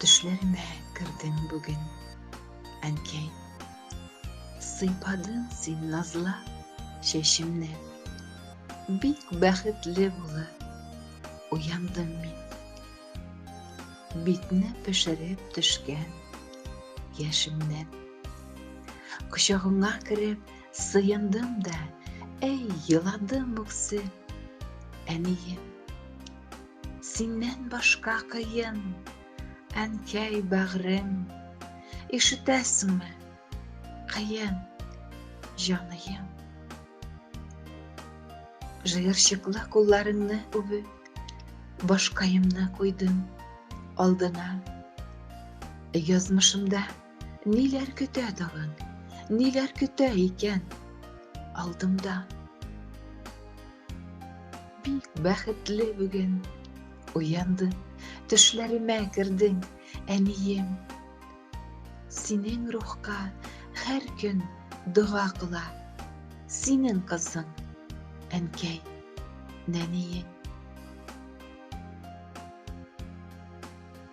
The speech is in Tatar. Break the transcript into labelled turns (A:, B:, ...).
A: Төшләремә кердең бүген, әнкәй. Сыйпадың син назла чәчемне. Бик бәхетле булып уяндым мин. Битне пешереп төшкән яшемнән. Кочагыңа кереп сыендым да, әй, еладым үксеп, әнием. Синнән башка кыен, әнкәй бәгърем, ишетәсеңме? Кыен, җаныем. Җыерчыклы кулларымны үбеп, башкаемны куйдым алдына. Язмышымда Ниләр көтә тагын? Ниләр көтә икән? Алдымда. Бик бәхетле бүген. Уянды. Төшләремә кердең, әнием. Синең рухка һәр көн дога кыла. Синең кызың, әнкәй, нәниең.